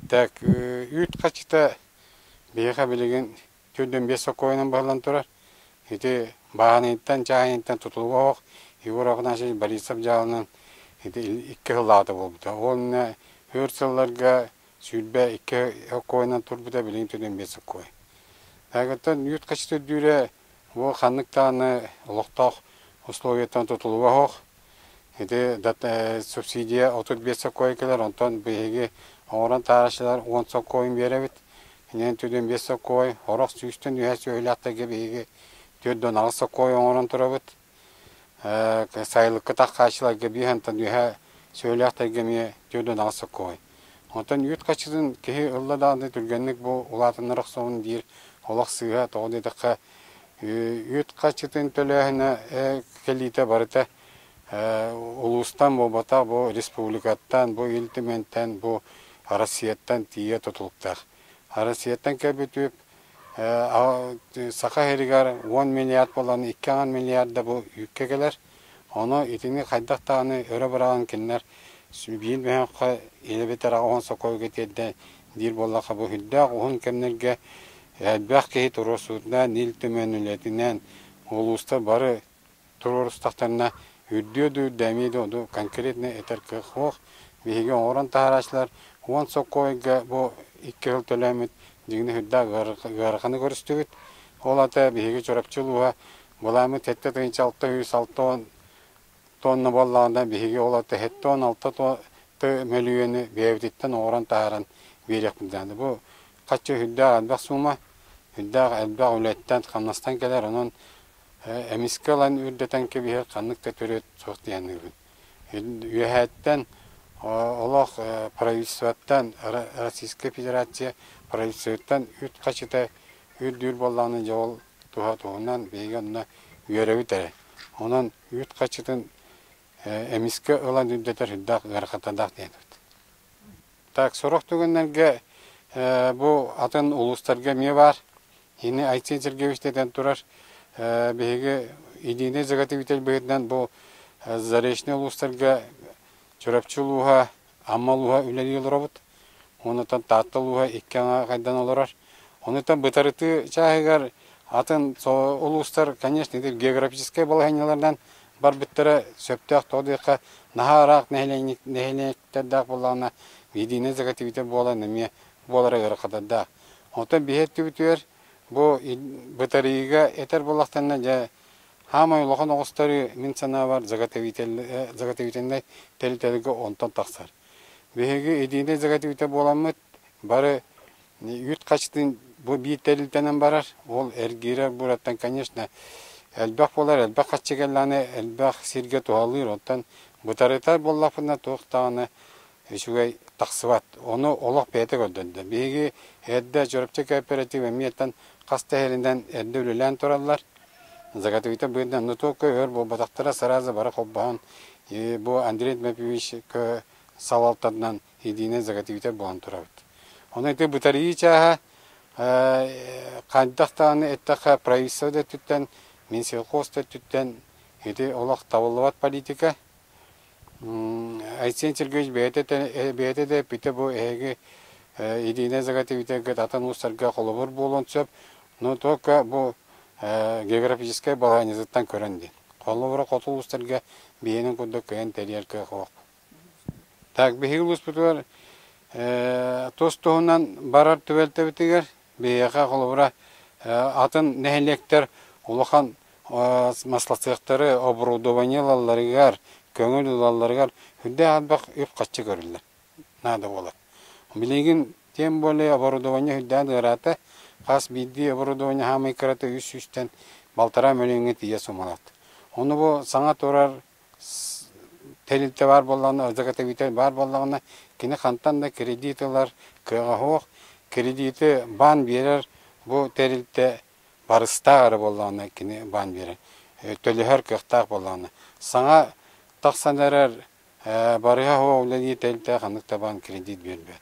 Так үүт хаччыта биһиэхэ билигин түөрт уон биэс сокуонунан баһыллан турар. Ити бааһыныйтан, чааһыныйтан тутулуга оһох Егор Афанасьевич Борисов дьааланан ити икки сыллаата буолбута. Уонна өр сылларга сүүрбэ икки сокуонунан турбута билигин түөрт уон биэс сокуон. Таһыгыттан үүт хаччыта үрдүүрэ бу ханнык даҕаны олохтоох условиеттан тутулуга оһох Ити субсидия отут биэс сокуон кэлэр, онтон биһиги оҥорон таһаараччылар он сокуон биэрэбит. Инэн түдүн биэс сокуон, орох сүүстэн үһэс үһүлээхтэргэ биһиги түөрт да аҕыс сокуон оҥорон турабыт. Сайылыкка таххааччыларга биир хантан үһэ сүөлээхтэргэ эмиэ түөрт да аҕыс сокуон. Онтон үүт хаччытын киһи ылла даҕаны түргэнник бу улаатыннар охсоҕун диир олох сыыһа, тоҕо диэтэххэ Үүт харчытын төлөөһүнэ кэлиитэ барыта улуустан буолбатах бу республикаттан, бу Ил Түмэнтэн, бу Россияттан тиийэ тутулуктаах. Россияттан кэлбит Саха сиригэр 10 миллиард буолан 2,5 миллиарда бу үүккэ кэлэр. Ону итини хайдах даҕаны өрө быраҕан кинилэр биир мөһөөххө ийэбит араҕа уһун сокуойга тиэрдэ диир буоллахха бу үрдээх уһун кэмнэргэ элбэх киһи туруорсуутунан Ил Түмэн үлэтинэн улуустар бары туруорустахтарына үрдүө да үрдэ эмиэ да ону конкретно этэр кыах суох биһиги оҥорон таһаарааччылар уон сокуойга бу икки сыл төлөөммүт дьиҥинэ үрдээх ыараханы көрүстүбүт ол ата биһиги Чурапчы улууһа Былааммыт сэттэ тыһыынча алта үс алта уон туонна буоллаҕына биһиги ол сэттэ уон алта ту мөлүйүөнү бэйэбититтэн оҥорон таһааран биэриэхпит даҕаны бу хачча үрдээх элбэх суума үрдээх элбэх үлэттэн хамнастан кэлэр онон эмискэ ылан үрдэтэн кэбиһэр ханнык да төрүөт суох диэн аныыбын Үөһээттэн олох правительствоттан, Российскай Федерация правительствоттан үт хачыта үрдүүр буоллаҕына дьэ ол туһа туһунан биһиги онно үөрэбит эрэ. Онон үүт хачытын эмискэ ылан үрдэтэр сүрдээх ыарахаттардаах диэбит. Так, сорох түгэннэргэ бу атын улуустарга эмиэ баар. Ини Айсен Сергеевич дэтэн турар, биһиги Единый Заготовитель быһыытынан бу Заречный улуустарга Чурапчы улууһа, Амма улууһа үлэлии олоробут. Онутан Таатта улууһа икки аҥа хайдан олорор. Онутан бытарытыы чааһыгар атын улуустар, конечно, географическай балаһанньаларынан барбыттара сөптөөх тоҕо диэххэ наһаа ыраах нэһилиэктэрдээх буоллаҕына Единый Заготовитель буолан эмиэ буолара ыарахатарда. Оттон биһи өттүбүтүгэр бу бытарыыга этэр буоллахтарына, дьэ, хаамай улахан оҕустары мин санаабар заготовительнай тэрилтэлэргэ онтон тахсар. Биһиги единэй заготовитель буоламмыт, бары үүт хачытын бу биир тэрилтэнэн барар, ол эргиирэр буураттан, конечно, элбэх буолар, элбэх хаччы кэллэҕинэ, элбэх сиргэ туһалыыр, оттон бытарытар буоллахпына, туох даҕаны үчүгэй тахсыбат. Ону олох бэйэтэ көрдөрдө. Биһиги эрдэ Чурапчы кооператив эмиэтэн хас да иһэринэн эрдэ үлэлээн тураллар. Заготовита быдан, но только өр буолбатахтара сразу бары холбоһон бу Андрей Дмитриевичка салалтатынан единый заготовитель буолан турабыт. Ону ити бытарыы чааһа хайдах даҕаны эттэхэ правительство да өттүттэн, Минсельхоз да өттүттэн ити олох табыллыбат политика. Айсен Сергеевич бэйэтэ да эппитэ бу эһиги Ирина Заготовитаргыт атын уустарга холобур буолуон сөп, но только бу географическай балаһыанньатыттан көрөн диэн. Холобура хоту улуустарга биһиэнин курдук кыайан тэрийэр кыахтаах. Так, биһиги улууспутугар тус туһунан барар түбэлтэбитигэр Биһиэхэ, холобура, атын нэһилиэктэр улахан маслоцехтары, оборудование ылалларыгар, көҥүл ылалларыгар үрдээх элбэх үп-харчы көрүллэр наада буолар. Билигин тем более оборудование үрдээн ыараата. Хас биирдии оборудование хаамай кырата үс сүүстэн балтараа мөлүйүҥҥэ тиийэ сумалаат. Ону бу саҥа турар тэрилтэ баар буоллаҕына, заготовитель баар буоллаҕына, кини хантан да кредит ылар кыаҕа суох. Кредити баан биэрэр бу тэрилтэ барыстаах эрэ буоллаҕына кини баан биэрэр, төлөһөр кыахтаах буоллаҕына. Саҥа тахсан эрэр барыһа суох үлэлии тэрилтэҕэ ханнык да баан кредит биэрбэт.